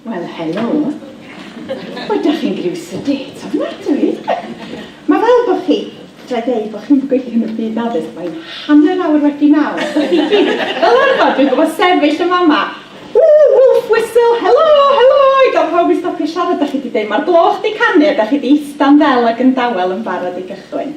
Wel, helo. Wel, da chi'n griw sedate ofnadwy. Mae fel bod chi, tra i ddeud bod chi'n gweithio yn y byd addysg, mae'n hanner awr wedi naw. Fel arfer, dwi'n gwybod sefyll yn fama. Ww, wolf whistle, helo, helo, i gael pawb i stopio siarad, da chi wedi dweud, mae'r gloch wedi canu a da chi wedi ista'n ddel ac yn dawel yn barod i gychwyn.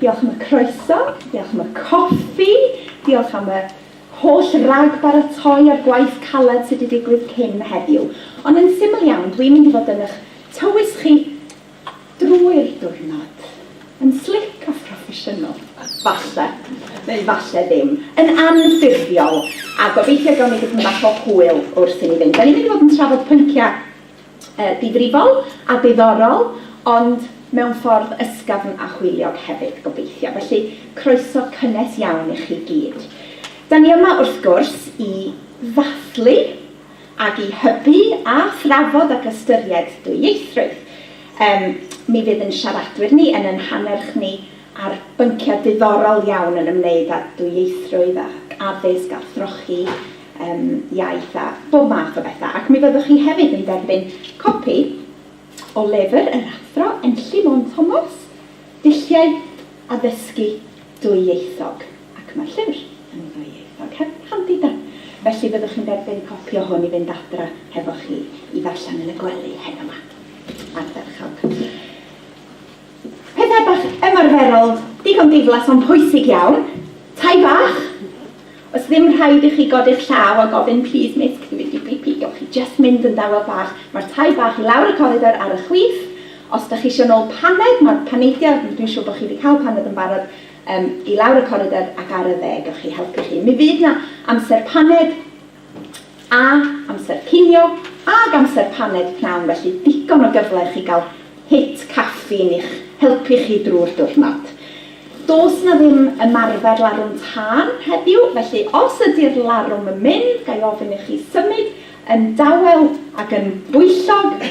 Diolch am y croeso, diolch am y coffi, diolch am y holl ragbaratoi a'r gwaith caled sydd wedi digwydd cyn heddiw. Ond yn syml iawn, dwi'n mynd i fod yn eich tywys chi drwy'r diwrnod, yn slic a phroffesiynol, falle, neu falle ddim, yn anffurfiol, a gobeithio gawn ni dipyn bach o hwyl wrth i ni fynd. Dan ni'n mynd i fod yn trafod pynciau difrifol a diddorol, ond mewn ffordd ysgafn a hwyliog hefyd, gobeithio. Felly, croeso cynnes iawn i chi gyd. Da ni yma, wrth gwrs, i ddathlu ac i hybu a thrafod ac ystyried dwyieithrwydd. Yym, mi fydd yn siaradwyr ni, yn ein hannerch ni, ar bynciau diddorol iawn yn ymwneud â dwyieithrwydd ac addysg a throchi yym iaith a bob math o bethau. Ac mi fyddwch chi hefyd yn derbyn copi o lyfr yr Athro Enlli Môn Thomas, Dulliau Addysgu Dwyieithog, ac mae'r llyfr yn ddwyieithog, heb, handi de? Felly fyddwch chi'n derbyn copi o hwn i fynd adra hefo chi i ddarllen yn y gwely heno 'ma. Ardderchog. Pethau bach ymarferol, digon diflas ond pwysig iawn. Tai bach. Oes ddim rhaid i chi godi'ch llaw a gofyn plîs mêt can we do pee pee gewch chi jyst mynd yn dawel bach, mae'r tai bach i lawr y coridor ar y chwith. Os dych chi isio nôl paned, mae'r paneidiau, dwi'n siŵr bod chi wedi cael paned yn barod, yym i lawr y coridor ac ar y dde gewch chi helpu chi. Mi fydd 'na amser paned. A, amser cinio, ag amser paned pnawn felly digon o gyfle i chi gael hit caffîn i'ch helpu chi drwy'r diwrnod. Does 'na ddim ymarfer larwm tân heddiw, felly os ydi'r larwm yn mynd, ga i ofyn i chi symud yn dawel ac yn bwyllog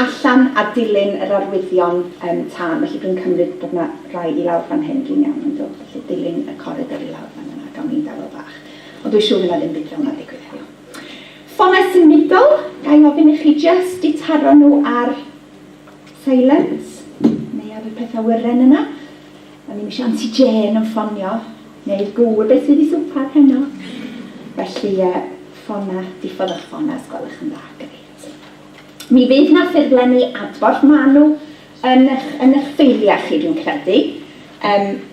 allan a dilyn yr arwyddion yym tân. Felly dwi'n cymryd bod 'na rai i lawr fan hyn, dwi'n iawn yndw? Felly dilyn y coridor i lawr fan yna, gawn ni dawel bach. Ond dwi siwr fydd 'na ddim byd fel 'na'n digwydd heddiw. Ffonau symudol, ga i ofyn i chi jyst eu taro nhw ar silent, neu ar y pethau wyren yna? O'n i'm eisiau Anti Jane yn ffonio, neu'r gŵr beth sydd i swpar heno. Felly, ffona, diffodd eich ffona os gwelwch yn dda. Grêt. Mi fydd 'na ffurflenni adborth, maen nhw yn eich ffeiliau chi dwi'n credu,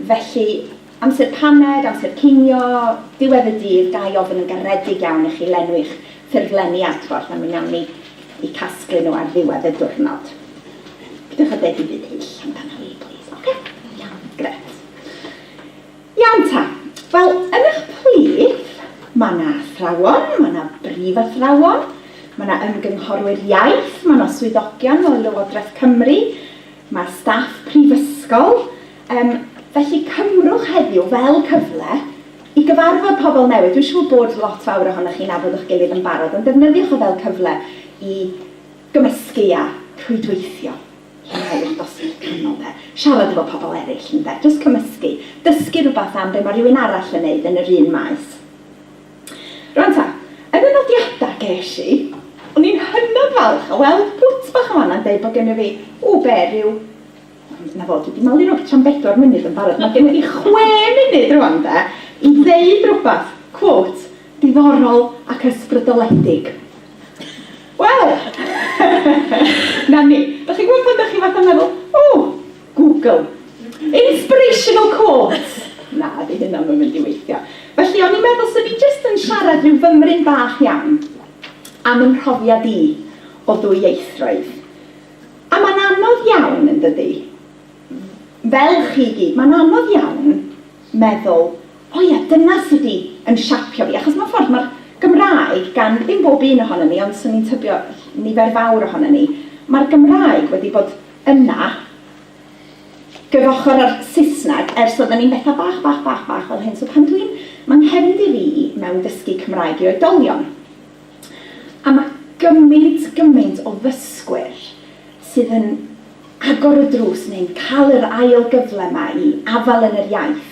felly Amser paned, amser cinio, diwedd y dydd, ga i ofyn yn garedig iawn i chi lenwi'ch ffurflenni adborth a mi wnawn ni eu casglu nhw ar ddiwedd y diwrnod. Peidiwch â deud dim byd hyll amdano i, plîs, ocê? Iawn, grêt. Iawn ta. Wel, yn eich plith, mae 'na athrawon, mae 'na brifathrawon, mae 'na ymgynghorwyr iaith, mae 'na swyddogion o Lywodraeth Cymru, mae staff prifysgol, Yym, felly cymrwch heddiw fel cyfle i gyfarfod pobl newydd. Dwi'n siŵr bod lot fawr ohonoch chi'n nabod eich gilydd yn barod, ond defnyddiwch o fel cyfle i gymysgu a rhwydweithio i'r ail dosbarth canol, de. Siarad efo pobl eraill, ynde, jyst cymysgu, dysgu rhywbeth am be mae rhywun arall yn wneud yn yr un maes. Rwan ta, yn y nodiadau ges i, o'n i'n hynod falch o weld pwt bach yn fan'na yn deud bod gennyf fi, ww, be, ryw Na fo, dwi 'di malu rwtsh am bedwar munud yn barod, mae gennyf fi chwe munud rwan de, i ddeud rwbath, quote, diddorol ac ysbrydoledig. Wel! Na ni. Dach chi'n gwybod pan dach chi fatha meddwl, O! Google. Inspirational quotes! Na, 'di hynna ddim yn mynd i weithio. Felly, o'n i'n meddwl 'swn i jyst yn siarad rhyw fymryn bach iawn am 'y mhrofiad i o ddwyieithrwydd. A mae'n anodd iawn, yn dydi? Fel chi i gyd, mae'n anodd iawn meddwl, 'O ia, dyna sut i yn siapio fi', achos mewn ffordd mae'r Gymraeg, gan ddim bob un ohonon ni, ond 'swn i'n tybio nifer fawr ohonon ni, mae'r Gymraeg wedi bod yna gyfochr â'r Saesneg ers oedden ni'n bethau bach, bach, bach, bach fel hyn. So pan dwi'n... Mae'n nghefndir i mewn dysgu Cymraeg i oedolion. A mae gymaint, gymaint o ddysgwyr sydd yn agor y drws neu'n cael yr ail gyfle 'ma i afael yn yr iaith.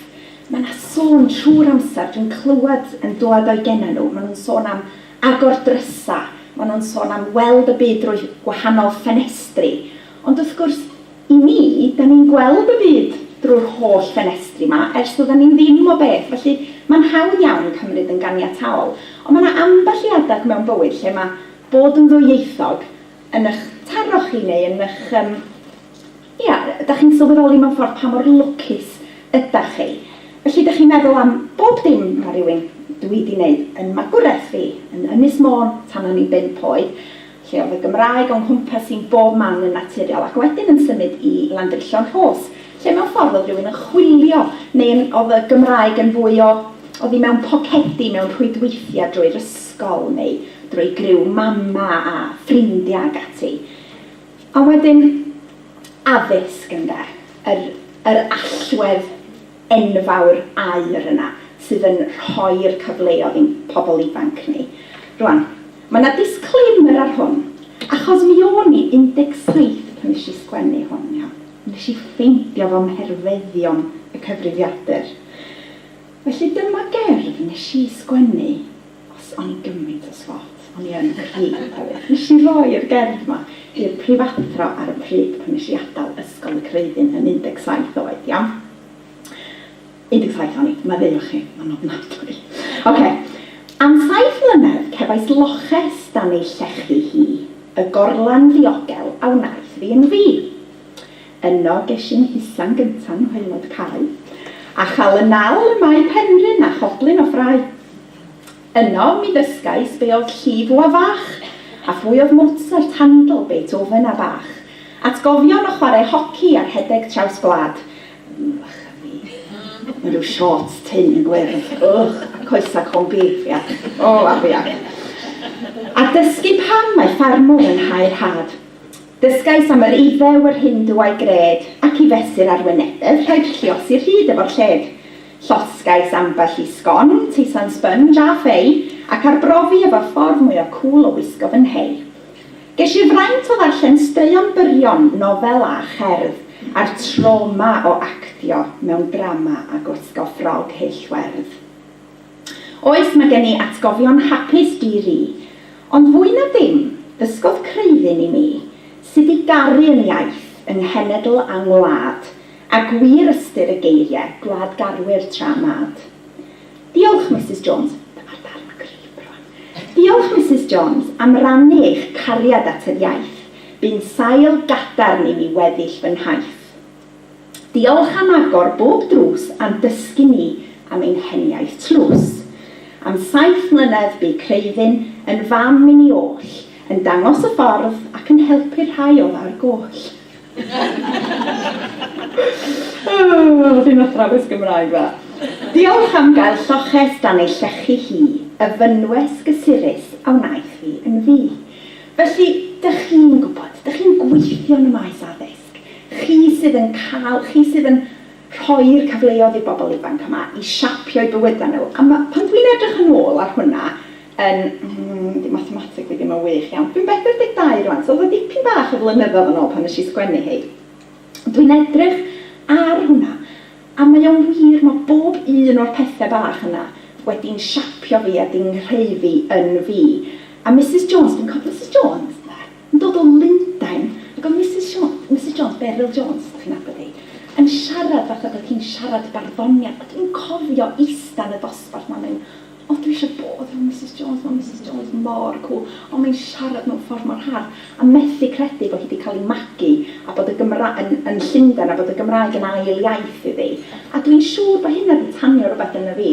Mae 'na sôn trwy'r amser, dwi'n clywed yn dwad o'u genau nhw, maen nhw'n sôn am agor drysau, maen nhw'n sôn am weld y byd drwy wahanol ffenestri, ond wrth gwrs, I mi, da ni'n gweld y byd drwy'r holl ffenestri 'ma, ers doeddan ni ddim o beth, felly mae'n hawdd iawn cymryd yn ganiataol. Ond mae 'na ambell i adeg mewn bywyd lle mae bod yn ddwyieithog yn y'ch taro chi neu yn y'ch yym, ia, da chi'n sylweddoli mewn ffordd pa mor lwcus ydach chi. Felly da chi'n meddwl am bob dim ma' rywun, dwi 'di 'neud yn magwraeth fi, yn Ynys Môn tan o'n i'n bump oed. lle oedd y Gymraeg o'n nghwmpas i yn bob man yn naturiol, ac wedyn yn symud i Landrillo yn Rhos, lle mewn ffordd oedd rhywun yn chwilio, neu yn, oedd y Gymraeg yn fwy o, oedd hi mewn pocedi, mewn rhwydweithiau drwy'r ysgol, neu drwy griw Mama a ffrindiau ac ati. Ond wedyn, addysg, ynde? Yr, yr allwedd enfawr aur yna, sydd yn rhoi'r cyfleoedd i'n pobl ifanc ni. Rŵan, Mae 'na disclaimer ar hwn, achos mi o'n i 17 pan nes i sgwennu hwn, iawn? Nes i ffeindio fo mherfeddion y cyfrifiadur. Felly dyma gerdd nes i sgwennu, os o'n i'n gymaint o swot, o'n i yn creep hefyd, nes i roi'r gerdd 'ma i'r prifathro ar y pryd pan nes i adal Ysgol y Creuddyn yn 17 oed, iawn? Ydi taith oni, maddeuwch chi, ma'n ofnadwy. Ok, am saith mlynedd cefais loches dan ei llechi hi, y gorlan ddiogel a wnaeth fi yn fi. Yno gesh i'n hisa'n gynta yng ngwaelod cae, a chal y nal ym mae Penrhyn a choblyn o ffrae. Yno mi ddysgais be odd llif wa fach, a phwy odd Mozart, Handel, Beethoven a Bach. Atgofion o chware hoci a rhedeg traws gwlad, Ww, bach a fi. Mewn rhyw siorts tynn yn gwyrdd, ych, a coesau corn beef, iach. O, afiach. iach. A dysgu pam mae ffarmwr yn hau rhad. Dysgais am yr Iddew, yr Hindw a'i gred, ac i fesur arwynebedd rhaid lluosi rhyd efo'r lled. Llosgais ambell i sgon, teisan sponge a fei, ac arbrofi efo'r ffordd mwya cŵl o wisgo fy nhei. Ges i fraint o ddarllen straeon byrion, nofel a cherdd, a'r trawma o actio mewn drama a gwisgo ffrog hyll werdd. Oes, mae gen i atgofion hapus di-ri. Ond fwy na dim, dysgodd Creuddyn i mi sut i garu yn iaith, yng nghenedl a ngwlad, a gwir ystyr y geirie, gwlad garwyr tra mad. Diolch, Misus Jones. Dyma'r darn cryf rwan. Diolch, Misus Jones, am rannu eich cariad at yr iaith. Bu'n sail gadarn i mi weddill fy nhaith. Diolch am agor bob drws a'n dysgu ni am ein heniaith tlws. Am saith mlynedd bu Creiddyn yn fam i ni oll, yn dangos y ffordd ac yn helpu'r rhai oedd ar goll. Ww, fi'n athrawes Gymraeg dda. Diolch am gael lloches dan ei llechi hi, y fynwes gysurus a wnaeth fi yn fi. Felly, dych chi'n gwybod, dych chi'n gweithio yn y maes addysg, chi sydd yn cael, chi sydd yn rhoi'r cyfleoedd i'r bobl ifanc yma i siapio'u bywydau nhw, a ma', pan dwi'n edrych yn ôl ar hwnna, yn mm di mathemateg fi ddim yn wych iawn, dwi'n 42 rwan so oedd o dipyn bach o flynyddoedd yn ôl pan nes i sgwennu hi. Dwi'n edrych ar hwnna a mae o'n wir, mae bob un o'r pethe bach yna wedi'n siapio fi a di nghreiddi yn fi. A Misus Jones, dwi'n cofio Misus Jones de, yn dod o Lundain ac oedd Misus Sio- Misus Jones, Beryl Jones os dach chi'n nabod hi, yn siarad fatha bod hi'n siarad barddoniaeth a dwi'n cofio ista yn y dosbarth 'ma a mynd O dwi isio bod fel Misus Jones, mae Misus Jones mor cwl, o mae'n siarad mewn ffordd mor hardd, a methu credu bod hi 'di cael ei magu a bod y Gymra-, yn, yn Llundain a bod y Gymraeg yn ail iaith iddi. A dwi'n siŵr bod hynna 'di tanio rywbeth ynddo fi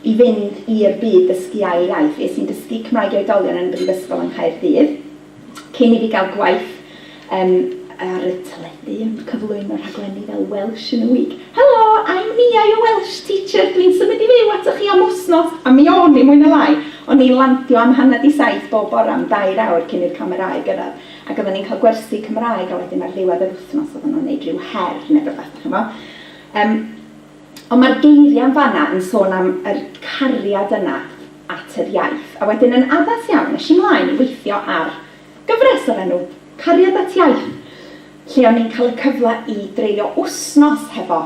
i fynd i'r byd dysgu ail iaith. Es i'n dysgu Cymraeg i oedolion yn y Brifysgol yng Nghaerdydd. Cyn i fi gael gwaith um, ar y teledu yn cyflwyno rhaglenni fel Welsh in a Week. Helo, I'm Mia, your Welsh teacher, dwi'n symud i fyw atoch chi am wsnos! A mi o'n i, mwy na lai. O'n i'n landio am hanner 'di saith bob bore am dair awr cyn i'r camerâu gyrraedd. Ac oedden ni'n cael gwersi Cymraeg a wedyn ar ddiwedd yr wythnos oedden nhw'n wneud rhyw her neu rywbeth, dach chi'n gwybod. Um, Ond mae'r geiriau yn fan'na yn sôn am yr cariad yna at yr iaith. A wedyn yn addas iawn, es i mlaen i weithio ar gyfres o'r enw 'Cariad at Iaith', lle o'n i'n cael y cyfle i dreulio wsnos hefo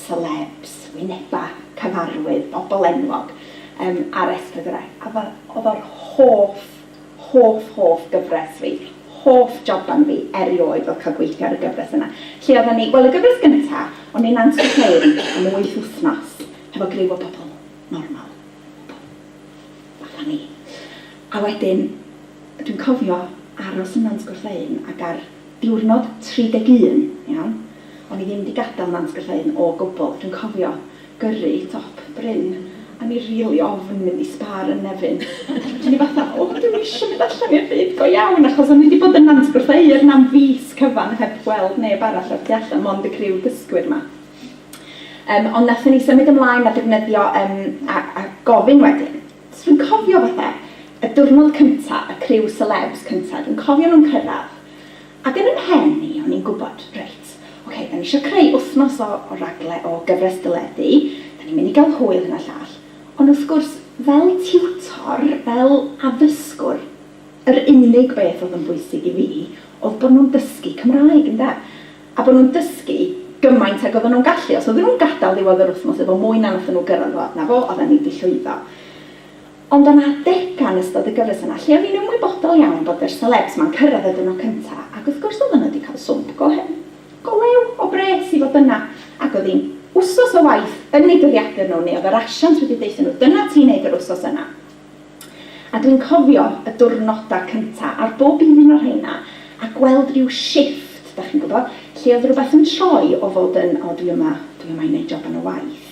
selebs, wynebau cyfarwydd, bobl enwog, yym, ar S4C. A fel, oedd o'r hoff hoff, hoff gyfres fi, hoff joban fi erioed oedd cael gweithio ar y gyfres yna, lle oedden ni, wel y gyfres gynta, o'n ni'n antertain am wyth wythnos hefo griw o bobl normal, bobl fatha ni, a wedyn dwi'n cofio aros yna'n Sgwrfei'n ag ar Diwrnod 31, iawn. O'n i ddim 'di gadael Nant Gylleudn o gwbl. Dwi'n cofio gyrru top bryn a o'n i rili ofn mynd i Spar yn Nefyn. Ac o'n i fatha, o, dwi'm isio mynd allan i'r byd go iawn, achos o'n i 'di bod yn Nant Gylleudn am fis cyfan heb weld neb arall o'r tu allan, mond y criw dysgwyr 'ma. Yym, ond nathon ni symud ymlaen a defnyddio yym a a gofyn wedyn. Dwi'n cofio fatha y diwrnod cynta, y criw selebs cynta, dwi'n cofio nhw'n cyrraedd, ac yn 'y mhen i, o'n i'n gwybod, reit, ocê, 'da ni isio creu wythnos o o ragle- o gyfres deledu, 'da ni'n mynd i gael hwyl, hyn a llall, ond wrth gwrs, fel tiwtor, fel addysgwr, yr unig beth oedd yn bwysig i fi oedd bod nhw'n dysgu Cymraeg, ynde? a bod nhw'n dysgu gymaint ag oedden nhw'n gallu, os oedden nhw'n gadael ddiwedd yr wythnos efo mwy na wnaethon nhw gyrraedd fo, 'na fo, oedden ni 'di llwyddo. Ond o' 'na adega yn ystod y gyfres yna lle o'n i'n ymwybodol iawn bod yr selebs 'ma'n cyrraedd y diwrnod cynta, ac wrth gwrs oedden nhw 'di cael swmp go hen, go lew, o bres i fod yna, ac o'dd hi'n wsos o waith yn eu dyddiadur nhw, neu o'dd yr asiant wedi deutho nhw, 'dyna ti'n neud yr wsos yna'. A dwi'n cofio y diwrnoda cynta ar bob un o rheina a gweld ryw shifft, 'dach chi'n gwybod, lle oedd rywbeth yn troi o fod yn, 'o dwi yma, dwi yma i wneud job yn y waith',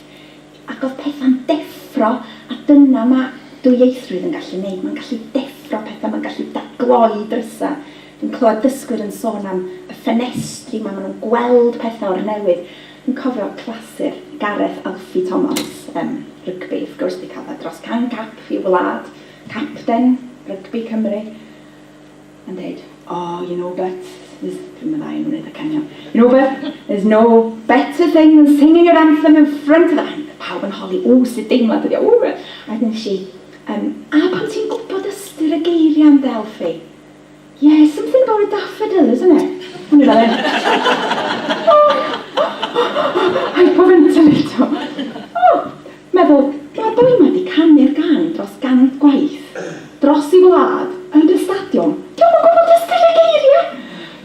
ac oedd pethau'n deffro, a dyna ma' dwyieithrwydd yn gallu wneud, mae'n gallu deffro pethau, mae'n gallu dadgloi drysau. Dwi'n clywed dysgwyr yn sôn am y ffenestri 'ma, maen nhw'n gweld pethau o'r newydd. Yn cofio clasur Gareth Alfie Thomas ym rygbi, wrth gwrs, wedi cael dros 100 cap i'w wlad, capten rygbi Cymru, yn deud, Oh, you know, but, there's, dwi'm yn dda iawn yn wneud acenion, You know, but, there's no better thing than singing your anthem in front of the, a oedd pawb yn holi, Ww, sut deimlad ydy o, ww, a wedyn ddeudais i, Yym, a pan ti'n gwybod ystyr y geiriau, ynde, Alfie? Yeah, something about a daffodil, isn't it? O'n i fel hyn. Hyperventilator. O! Meddwl, mae'r boi 'ma 'di canu'r gân dros gant gwaith, dros ei wlad, yn y stadiwm, 'di o'm yn gwybod ddisgrifiad geiriau!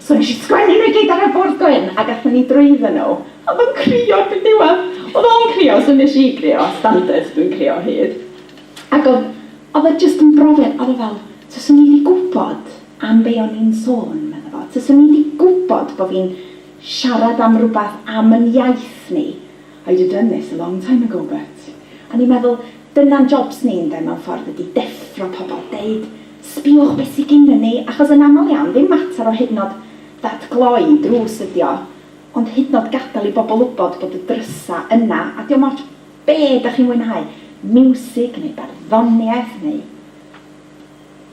So nes i sgwennu nhw i gyd ar y bwrdd gwyn a gathon ni drwyddan nhw. O'dd o'n crio erbyn diwedd. O'dd o'n crio, so nes i grio, standard, dwi'n crio o hyd. Ac o'dd Oedd o jyst yn brofiad, oedd o fel, 'taswn i 'di gwybod am be o'n i'n sôn, medda fo, 'taswn i 'di gwybod bo' fi'n siarad am rywbeth am yn iaith ni, I'd have done this a long time ago, but. O'n i'n meddwl, dyna'n jobs ni ynde, mewn ffordd, ydi deffro pobl, deud, 'sbïwch be sy gynnon ni', achos yn aml iawn, ddim mater o hyd yn o'd ddatgloi drws ydi o, ond hyd yn o'd gadael i bobl wybod bod y drysa' yna, a 'di o'm ots Be dach chi'n fwynhau? Miwsig neu barddoniaeth neu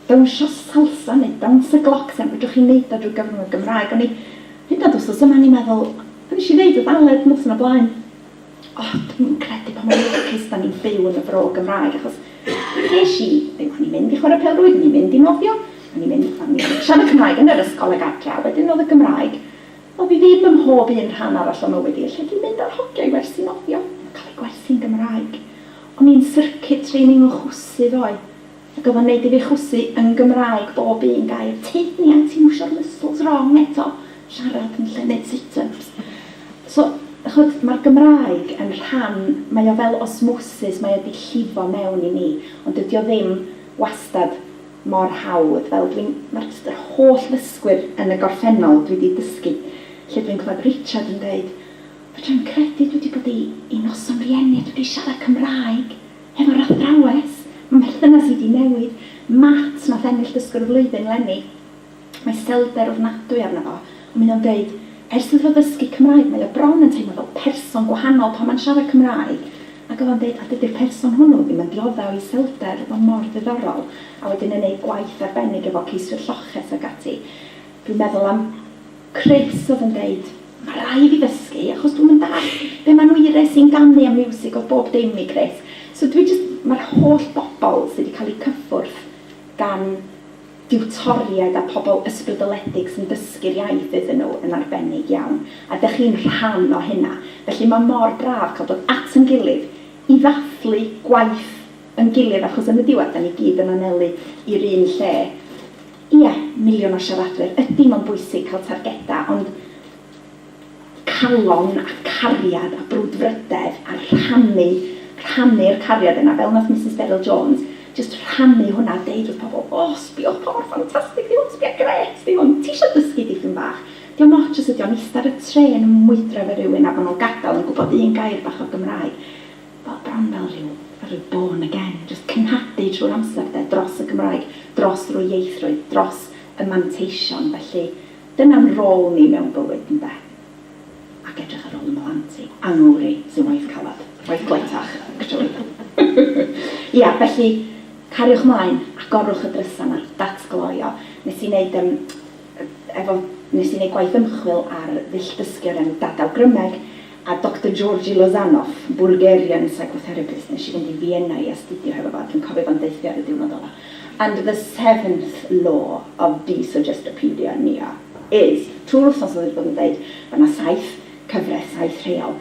dawnsio salsa neu dawns y glocs a fedrwch chi neud o drwy gyfrwng y Gymraeg. O'n i hyd yn oed wsos yma o'n i'n meddwl o'n nesh i ddeud wrth Aled noson o blaen o dwi'm yn credu pa mor lwcus da ni'n byw yn y Bro Gymraeg achos nesh i ddim o'n i'n mynd i chwara pêl rwyd o'n i'n mynd i nofio o'n i'n mynd o'n i'n siarad Cymraeg yn yr ysgol ag adra wedyn o'dd y Gymraeg Wel, fi ddim ym mhob un rhan arall o mywyd i, lle dwi'n mynd ar hogia i wersi nofio, yn cael eu gwerthu'n Gymraeg. O'n i'n circuit training yn chwysu ddoe, ac oedd o'n neud i fi chwysu yn Gymraeg bob un gair, tyd ni anti mwsio'r muscles wrong eto, siarad yn lle neud sit-ups. So, ch'od, ma'r Gymraeg yn rhan, mae o fel osmosis, mae o 'di llifo mewn i mi, ond dydi o ddim wastad mor hawdd, fel dwi'n, ma'r jyst yr holl ddysgwyr yn y gorffennol dwi 'di dysgu, lle dwi'n clywed Richard yn deud, fedra i'm credu dwi 'di bod i i noson rieni a dwi 'di siarad Cymraeg hefo'r athrawes, ma' merthynas i 'di newid, Matt nath ennill dysgwr y flwyddyn 'leni, Mae stelder ofnadwy arno fo, ond mae o'n deud, Ers iddo fo ddysgu Cymraeg, mae o bron yn teimlo fel person gwahanol pan mae'n siarad Cymraeg. Ac oedd o'n deud, a dydy'r person hwnnw ddim yn diodde' o iselder, oedd o mor ddiddorol. A wedyn yn ei gwaith arbennig efo ceiswyr lloches ac ati. Dwi'n meddwl am Chris oedd yn deud, Mae rhai' i fi ddysgu, achos dwi'm yn dallt be' ma' Nwyre sy'n ganu am miwsig oedd bob dim i Chris. So dwi jyst, mae'r holl bobl sy' 'di cael eu cyffwrdd gan diwtoriaid a pobl ysbrydoledig sy'n dysgu'r iaith iddyn nhw yn arbennig iawn, a dych chi'n rhan o hynna. Felly mae mor braf cael dod at ein gilydd i ddathlu gwaith ein gilydd, achos yn y diwedd, dan ni gyd yn anelu i'r un lle. Ie, miliwn o siaradwyr, ydy, mae'n bwysig cael targedau, ond, calon a cariad a brwdfrydedd a rhannu, rhannu'r cariad yna, fel wnaeth Misus Beryl Jones, jyst rhannu hwnna a deud wrth pobl, o, sbïwch pa mor ffantastig 'di hwn, sbïa, grêt 'di hwn, ti isio dysgu dipyn bach? Dio'm ots os ydi o'n ista ar y trên yn mwydro efo rywun a bod nhw'n gadael yn gwybod un gair bach o Gymraeg, wel, bron fel rhyw, fel rhyw born again, jyst cenhadu trwy'r amser, 'de, dros y Gymraeg, dros ddwyieithrwydd, dros y manteision, felly, Dyna'n rôl ni mewn bywyd, ynde? Ac edrych ar ôl 'y mhlant i. Angori sy'n waith caled. Waith gletach, actually. Ia, felly, cariwch 'mlaen, agorwch y drysa 'na. That's gloio. Nes i neud yym efo... nes i neud gwaith ymchwil ar ddull dysgu o'r enw Dadawgrymeg, A Doctor Georgi Lozanov, Bulgarian psychotherapist, nes i fynd i Fienna i astudio hefo fo a dwi'n cofio fo'n deutho fi ar y diwrnod ola, And the seventh law of desuggestopedia, Nia, is, trwy'r wthnos oedd o 'di bod yn deud, ma' 'na saith cyfres, saith rheol,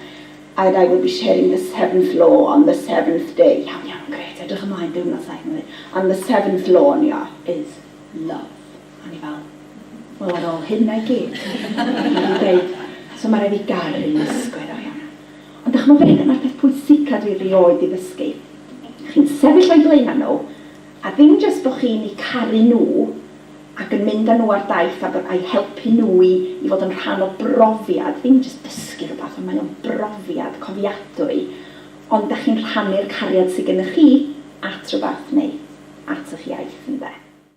and I will be sharing the seventh law on the seventh day, iawn, iawn, grêt, edrych ymlaen, diwrnod saith, ma' nhw'n deud, and the seventh law, Nia, is love. A o'n i fel, wel ar ôl hynna i gyd, dwi wedi deud, so ma' raid fi garu ysgol iddo iawn. Ond dych ch'mod be, dyna'r peth pwysica dwi rioed di ddysgu. Chi'n sefyll o'i blaena nhw, a ddim jyst bo chi'n i caru nhw ac yn mynd a nhw ar daith a bod a'i helpu nhw i i fod yn rhan o brofiad, ddim jyst dysgu rhywbeth ond mae o'n brofiad cofiadwy, ond dych chi'n rhannu'r cariad sy gynnych chi at rhywbeth neu at ych iaith ynde.